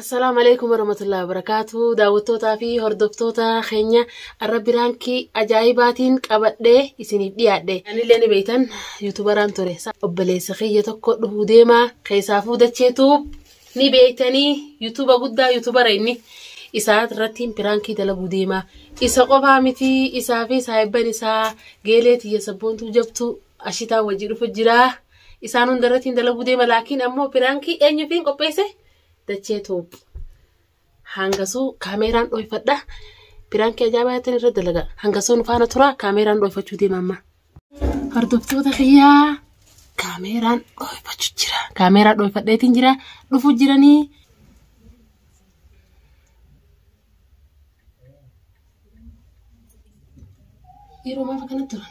Assalaamu alaikum warahmatullahi wabarakatuh. Daawwattootaa fi hordoftoota keenya arra biraankii ajaa'ibaatiin qabadhee isiniif dhiyaadhe. Anillee ni beektan yuutubaraan ture. Obboleessa kiyya tokko dhufuu deemaa keessaa fuudacheetu ni beektanii yuutuuba guddaa yuutubara inni isaa irrattiin piraankii dalaguu deemaa isa qofaa miti isaa fi saahibban isaa geelee tiyya sabboontuu jabtuu ashitaa wajji dhufu jira isaan hunda irrattiin dalaguu deema laakiin ammoo piraankii eenyufiin qopheesse dachee tuub Hangasuu kaameeraan dhoofadha. Piraankii ajaa'ibaatti irra dalaga. Hangasuu nu faana tura kaameeraan dhoofachuu deema amma. Hordoftoota kiyyaa kaameeraan dhoofachuu jira. Kaameeraa dhoofadheetiin jira. Dhufuu jiranii. Yeroo maaf akkana turan?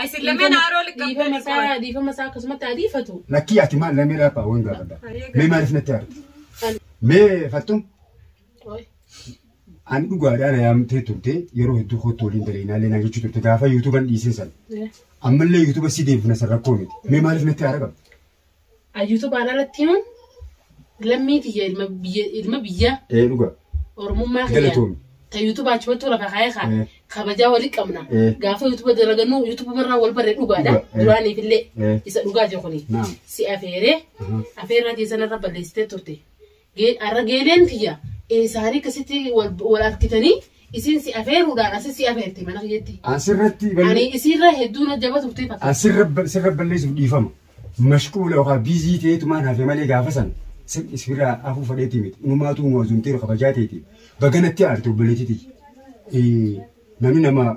Ay, sin lameen haaroo liqamtee Dhiifama isaa liqoon. dhiifama isaa akkasumatti haa dhiifatu. Lakkii ati maal lamee dhaabaa waan gaafadha. Mee maaliif natti aarti? Mee fattum Qoy. ani dhugaadhaa na yaamtee turte yeroo hedduu kootti waliin daleenaallee naan jechuu turte gaafa yuutuuban dhiisee sana. Eh. Ammallee yuutuuba si deebifna san rakkoo miti. Mee maaliif natti aara qabda? Ayyuutubaan alatti himuun lammii tiyya ilma biyya ilma biyya Ee dhuga. oromummaa kiyya Galatoomi. ta yuutuba achumatti lafa kaa'ee kaa Eh. kabajaa walii qabna Eh. gaafa yuutuba dalagannu yuutuba barraa wal barree dhugaadha Dhuga, eh. duraaniif illee Eh. isa dhugaa jiru kuni Naam. si afeeree Aha. afeerraa keessan irra balleessitee turte Arra geeleen tiyya eesaanii akkasitti wal arkitanii isiin si afeeruudhaan asi si afeerte mana kiyyatti. An sirratti Ani isiirra hedduun hojjaba turtee fakkaata. An sirra sirra balleessuuf dhiifama. Mashquula yookaan biizii ta'eetumaan hafe malee gaafa san sirra afuu fadheetii miti. Inumaatu nu azumteeru kabajaa ta'eeti. Baganatti aarte obboleettii tiyya. Namni nama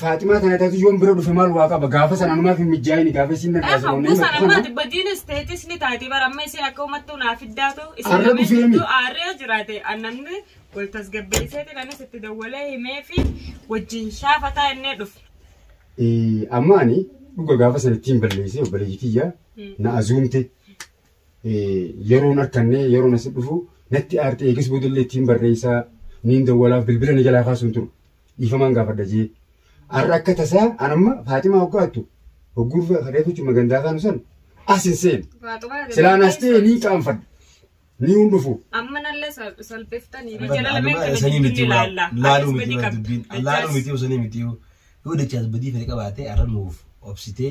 Faaximaa tana taatu yoon bira dhufe maal waa qaba gaafa sana numaaf hin mijjaa'ini gaafa isiin nan taasisu namni Kusan amma ati badiinis teetis ni taati bara amma isin akka uummattuu naa fiddaatu isin Arra lameen dhufee mi? gidduu aarree jiraate an namni wal tasgabbeesseetiin anis itti dawwalee himee fi wajjin shaafataa innee dhufe. Amma ani dhuga gaafa sana ittiin balleessee obboleeyyi kiyya na azuumte yeroon harkannee yeroon asi dhufu natti aartee eegas boodallee ittiin barreessaa niin dawwalaaf bilbila na jalaa kaasuun ture dhiifamaan gaafadha jee har'a akka tasaa an amma faaximaa hoggaattu hogguu reefu jimma gandaa kaanu san as hin seenu silaan as ta'e niin qaanfadha ni hin dhufu. Amma nallee salphiftanii jala lameen kana jidduu ilaalla. Laaluu miti dubbiin laaluu miti osoo miti yoo dachaa badii fedhe qabaatee arra nuuf obsitee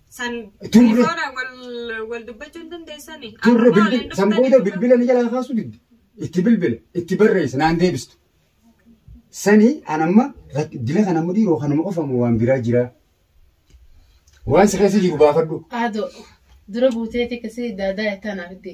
San Durre. telefoona wal wal dubbachuu hin dandeessani. Durra Akkuma waliin bilbila san dhuftanii- booda bilbila ni jalaa kaasuu didde. Itti bilbila itti barreessa naan deebistu. Sani an amma rak- dila kana amma dhiiroo kanuma qofa moo waan biraa jiraa. Waan si keessa jiru baafadhu. Aado dura buuteeti kasi daadaa itti anaaf itti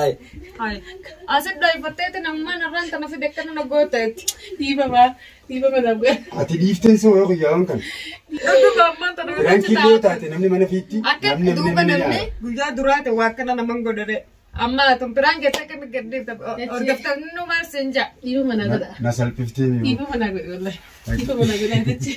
Ay. Ay, asin dhaifatteeti namman irraan tana fide akkana na gooteetti. Dhiifama, dhiifama na bu'e. Ati dhiifteen soo yoo guyyaa waan kana. Dhuguma amman tana fide Biraan killee yoo taate namni mana fiitti. Akka namni duuba namni namni nyaata. guyyaa duraate waa akkana naman godhare. Amma tun biraan keessa akka mi gaddeefta hordoftan numaa sin ja'a. Dhiifama na godha. Na salphiftee mi'oo. Dhiifama na godha. Dhiifama na godha.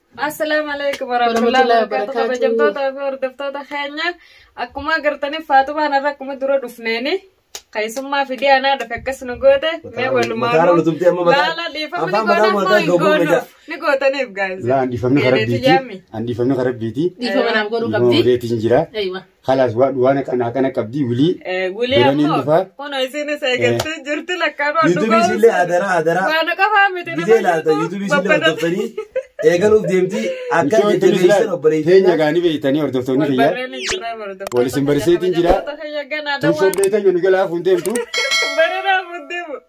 Assalaamu alaikum warahmatullahi wabarakatuh kabajamtoota fi hordoftoota keenya akkuma agartaniif faatumaan irra akkuma dura dhufneeni keessummaa fidee anaa dhufe akkas nu goote mee walumaan laala dhiifamni goonaa hin goonu ni gootaniif gaa'isa. Laa handifamni karabbiiti. Handifamni karabbiiti. Dhiifama naaf godhuu qabdi. Reetiin jira. Eeywa. Kalaas waa duwaan akana akana qabdi wili. Wili Biraniin ammoo dhufaa. hono isiinis eegattee jirti lakkaa waan Yuutuubii isillee adaraa adaraa. Waan qafaa miti Gidee laata yuutuubii isillee hordoftanii eegaluuf deemti akka Michoon tunis jajjabeessan laal. Teenya obboleeyyiin. gaanii beeytanii hordoftoonni kiyyaa. Wal isin barsiiseetiin jira. Tun sobdee teenya nu jalaa fuun deemtu. Baranaaf deemu.